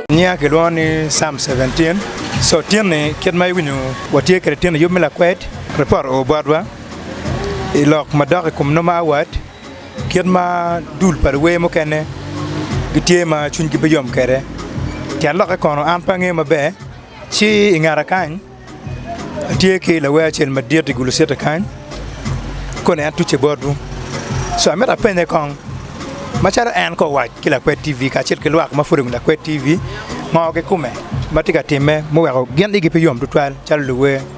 Nyinga kilwongo ni Psalm 17. So tyeni kit ma iwinyo watye kwede tyeni yub me lakwed, ripot oo botwa i lok madok i kom nongo ma awat. Kit ma dul pa luwer mukene gitye ma cwinygi pe yom kwede, tyen lokke kono? An pe angeyo maber. Ci i ngete kany tye ki lawer acel madit i gulucitta kany, koni en tucce botwu. Ca myero apenye kong macalo en ka owac ki lakwed TV kacel ki lwak ma pud obedo lakwed TV, ngo kikume ma tye ka timme muweko gin igi pe yom tutwal calo luwer?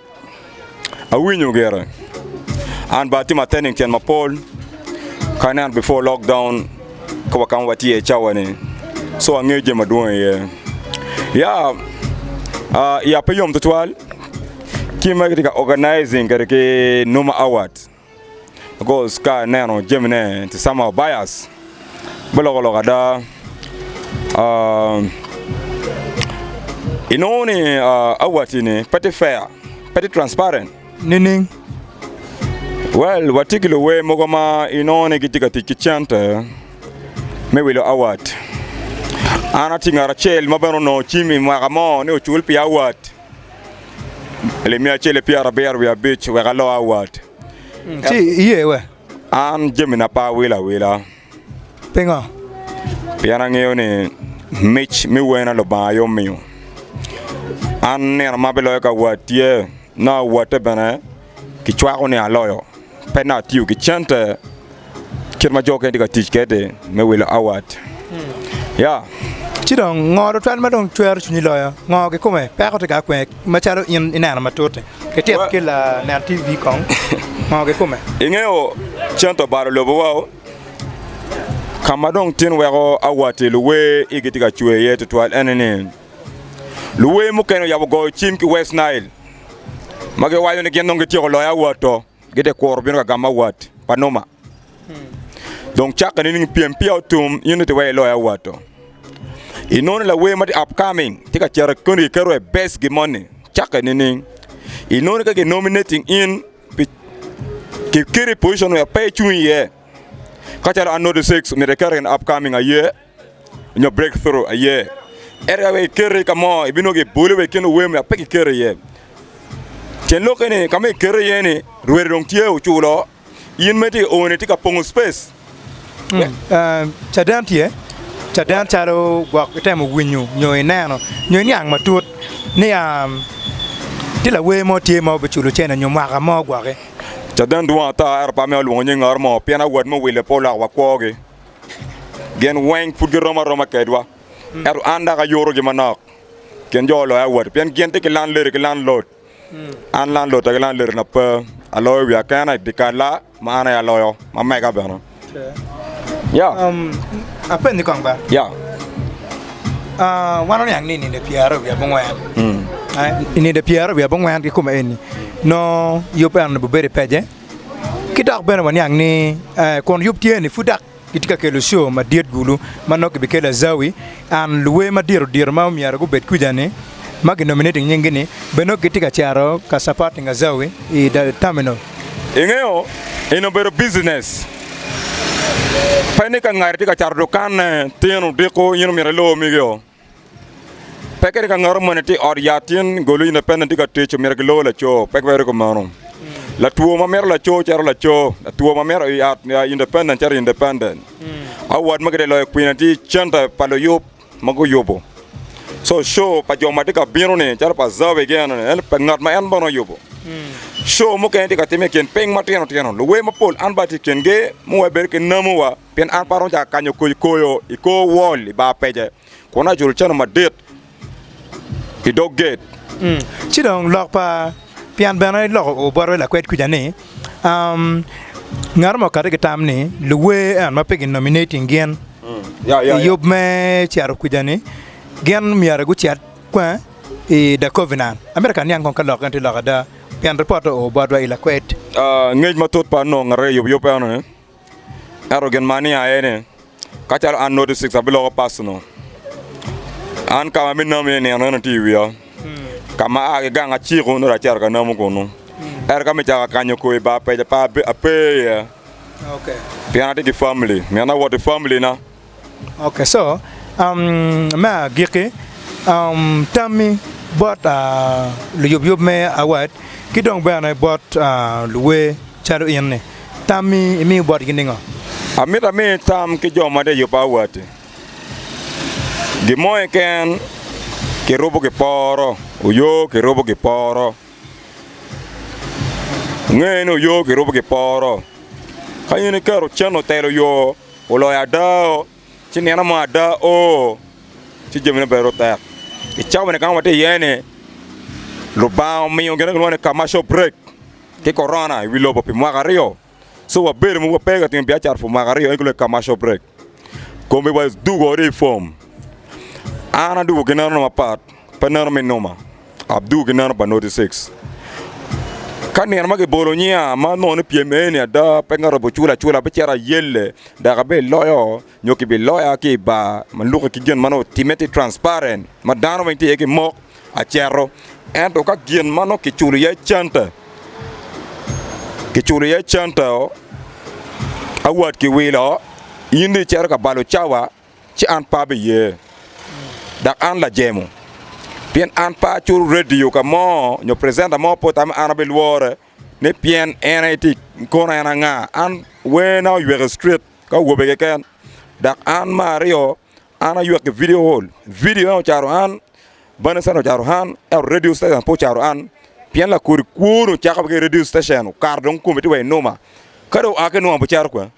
Awinyo gire. An ba atimo attending cen mapol ka nen before lockdown ka wa kama watye i cawa ni. So angeyo jami madwong iye. Ya, uh, ya pe yom tutwal. Ci magi tye ka organizing kede ki Numa Awards. Because ka ineno jamine it's somehow bias. Me loko lok ada, um, inongo ni uh, awatini pe tye fair, pe tye transparent. Nining? Well, watye ki luwer mogo ma inongo ni gitye ka tic ki cente me wilo awat. An atye ngat acel ma bene onongo cim i mwaka mo ni ocul pi awat. Limia acel ki pyera abiro wiye abic wek alo awat. Ci iye we? An jamina pe awilo awila. Pingo? Pien angeyo ni mic mi wena Lubanga aye omiyo. An nino ma biloyo ka wat tye, nongo awatte bene. Kicwako ni aloyo. Pe nongo atiyo ki cente kit ma jo mukene tye ka tic kwede me wilo award. Ya. Ci dong, ngo tutwal ma dong cwero cwinyi loyo? Ngo kikome peko tye ka kwee macalo in ineno matut-ti? Ityeko ki lanen TV kong, ngo kikome? Ingeyo cente obalo lobowa o, ka ma dong tin weko award-ti luwer igi tye ka cwer iye tutwal ene ni luwer mukene oyabo goyo cim ki West Nile. ma giwaco ni gin dong gityeko loyo awat to gitye kuro bino ka gamo awat pa Numa. Dong cakke nining pyem peya otum in ite wek iloyo awat to? Inono lawer ma tye upcoming tye ka cito koni kiketo e best gi moni cakke nining? Inono ka ginominating in pi kiketi i position ma pe icung iye kacalo Arnold Essex myero ekete in upcoming aye? nyo break through aye ento ka wek ikete ka mo ibinongo kiboli wa i kin luwer ma pe kiketi iye cen lokke ni ka ma ikete iye ni lwer dong tye oculo in mere tye ka oo ni tye ka pongo space. Caden tye caden calo gwok itemo winyo nyo ineno nyo iniang matut ni tye lawer mo tye ma obiculo cene nyo mwaka mo gwoki. Caden dwong ata ento pe amito lwongo nying ot mo pien awot me wile pe oloko wa kwogi. Gin weng pud girom aroma kedwa, ento an dok ayurogi manok kin jo oloya woti, pien gin tye ki landlady ki landlord. An landlotta ki landladina pe, aloyo wiya kena i dyekal-la ma an aye aloyo, ma mega bene. Ya, Apenyi kong ba, ya, ah, wan oniang ni i nino pyeraryo wiye abongwen, mm, i nino pyeraryo wiye abongwen ki kumaeni nongo yub eno-ni bibedo i pece. Ki dok bene waniang ni kun yub tye ni pud dok gitye ka kelo co madit gulu ma nongo kibikelo azawi and luwe madito dito ma myero gubed kwica ni ma ki nominating nyingi ni bene nongo gitye ka cito ka supporting azawi i terminal. Ingeyo eni obedo business pe ni ka ngat tye ka cato dukanne tino diko in omyero ilor migi oo. Pe kadi ka ngat omone ti i ot yat tin goli ne pene ti ka tic omyero gilor laco pe ki weri kumeno latwo ma mito laco cito laco latwo ma mito i at independent cito independent award ma gitye loyo kwine ti center pa luyub ma guyubu so show pa jo ma ti ka bino ni calo pa Zawi gi eno ni en pa ngat ma en bene oyubu show mukene ti ka time i kin piny matino tino luwer mapol an bene ati i kingi muweko bedo ki namu wa Pien an pe aromo cako kanyo koyo koyo i kor wol i bar pece, kun aculo cente madit i dog gate. Ci dong lok pa pien bene loko o botwa i lakwed kuca ni, Ngato mo okati ki tam ni luwer ento ma pe ginominating gin i yub me cito kuca ni gin myero gucit i The Covenant. Amito ka aniang kong ka lok eno tye lok ada pien ripot-te oo botwa i lakwed. Ngec matut pa nongo ngato aye i yub yub eno ni. Ento gin ma aniang aye ni, ka calo an Noti Six abiloko pac-nu. An ka ma abinamo iye i nino eno tye i wiya, ka ma aa ki gang aciko nongo acito ka namo kunu. Ento ka mito cako akanyo koi ba peja pa ape iye, pien atye ki famili, miti awot ki familina. Ok so me agikki tammi bot luyubyub me award ki dong bene bot luwer calo in ni tammi imiyo botgi ningo? Amito ami tam ki jo ma tye ka yubo award ni gin mo keken ki rubo ki poro oyo ki rubo ki poro nge ni oyo ki rubo ki poro ka in iketo cen otelo yo Oloyo ada oo, ci nino mo ada oo, ci jamine bene dong tek. I cawa ni kama watye iye ni, Lubanga omiyo gin ma kilwongo ni commercial break ki Corona i wi lobo pi mwaka aryo. So wabedo mogo wape ka timo biacara for mwaka aryo, en aye kilwongo ni commercial break. Komgi wa dugo wariyo i form. An adugo ginenona mapat. Pe neno me numa abduu ki neno pa noti six. Ka nino ma kibolo nyinga ma nongo ni pyem eni ada pe ngato bi cula acula abicito ayelle dok abiloyo nyo kibiloya ki i bar ma lukke ki gin ma nongo otimme tye transparent ma dano weng tye iye ki mok acito. Ento ka gin ma nongo kiculo iye centa kiculo iye centa-o award kiwilo in dong icito ka balo cawa. ci an pe abiye, dok an lajemo, pien an pe acuro redio ka mo nyo precenta mo pota ma an abilwore ni pien en aye tye i kono en anga. An werna oywek i street ki awobe keken, dok an me aryo an aywek i video hall, video ento ocaro an. Bene cen ocaro an, ento redio citecen pe ocaro an, pien lakodi kwo-ni ocako ki i redio citecen, okato dong kome tye wa i numa. Ka dong oa ki i numa bicito kwene,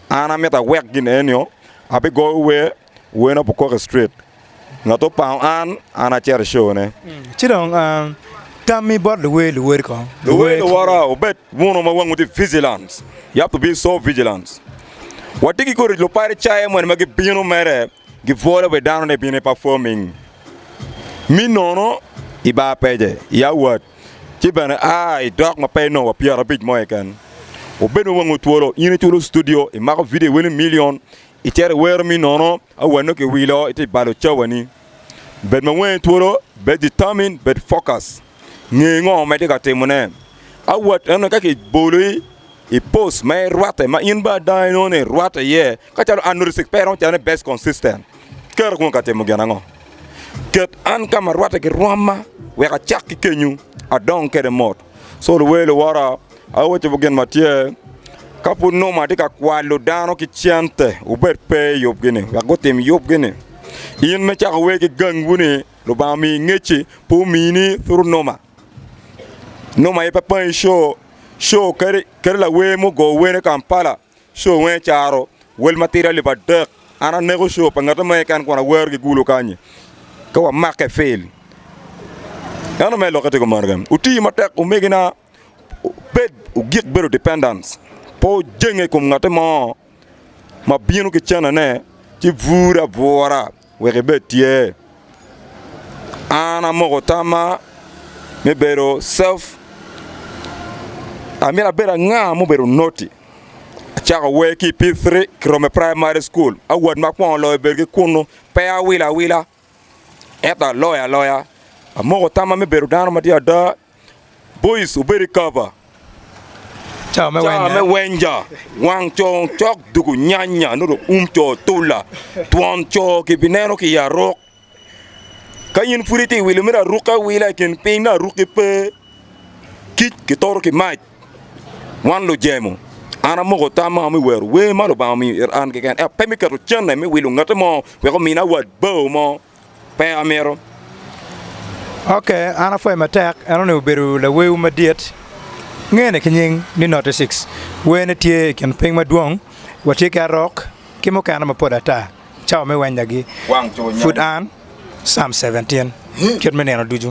an amito awek gin eni nio, abigoyo wer, werna bukok straight. Ngat opango an, an acito i cone. Ci dong tammi bot luwer luwod kong. Luwer luwora, wubed wunu ma wangwu tye vigilant. You have to be so vigilant. Watye ki kodi luparicayo moni ma gibino mere. Gipwolo bed dano-ni bino i pafoming mi nono i bar pece i awat, ci bene a i dok ma pe i nowa pyerabic mo keken. Obed ma wango twolo, in iculo studio, imako vidio weni milion, icito iwero mi nono awat nongo kiwilo iti balo cawani. Bed ma wangi twolo, bed determined, bed focus. Nge ngo ma itye ka timone. Awot eno ka kiboli i post ma irwatte ma in bene ada inongo ni irwatte iye kacalo an nurse pe iromo calo ni best consistent. Keri kong ka timo gin ango? Ket an ka ma arwatte ki rwomma wek acak ki kenyu adong kwede mot. So luwer luwora awacowu gin ma tye, ka pud nongo atye ka kwalo dano ki cente wubed pe i yubgi ni wek gutim yubgi ni in me cako wer ki gangwu ni. Lubanga omiyi ngecci pe omiyi ni thuru noma. Noma aye pe pangi show. Show kadi kadi lawer mugo wene Kampala show weng caro wel matidi alip adek. An aneko show pa ngati mo keken kun awero gigulu kanyi ka wamake fil. Ento me lokke tye kumeno kene. Wuti matek omegina wubed wugik bedo dependence. Pe wujenge i kom ngati mo ma bino ki cene ne ci bure abura. Wek ibed tye. An amoko tamma me bedo self, amyero abed anga ma obedo noti. Acako wer ki i P3 kirome praimari cukul, awat ma akwongo loyo bedo ki kunnu. Pe awilo awila ento aloyo aloya. Amoko tamma me bedo dano matye ada. Boice obedo i kava, Cawa me Cawa me wenge. wenja, wang co cok dugu nyanya nongo um co tula, twon co kibineno ki i aruk. Ka in pud itye ka wilo meno arukke awila i kin piny nongo arukki pe, kic kitoro ki mac. Wan lujemo, an amoko tamma me wero wer ma Lubanga omiyo ita an keken ento pe me keto cente me wilo ngatte mo wek omina wat bao mo. Pe amito. Ok, an apwoye matek, en onongo obedo lawerwu madit, ngene ki nying ni Note Six. Werne tye i kin piny madwong, watye ki arok ki mukene mapol ata. Cawa me wenynagi pud an, Psalm Seventeen, kit me nino ducu.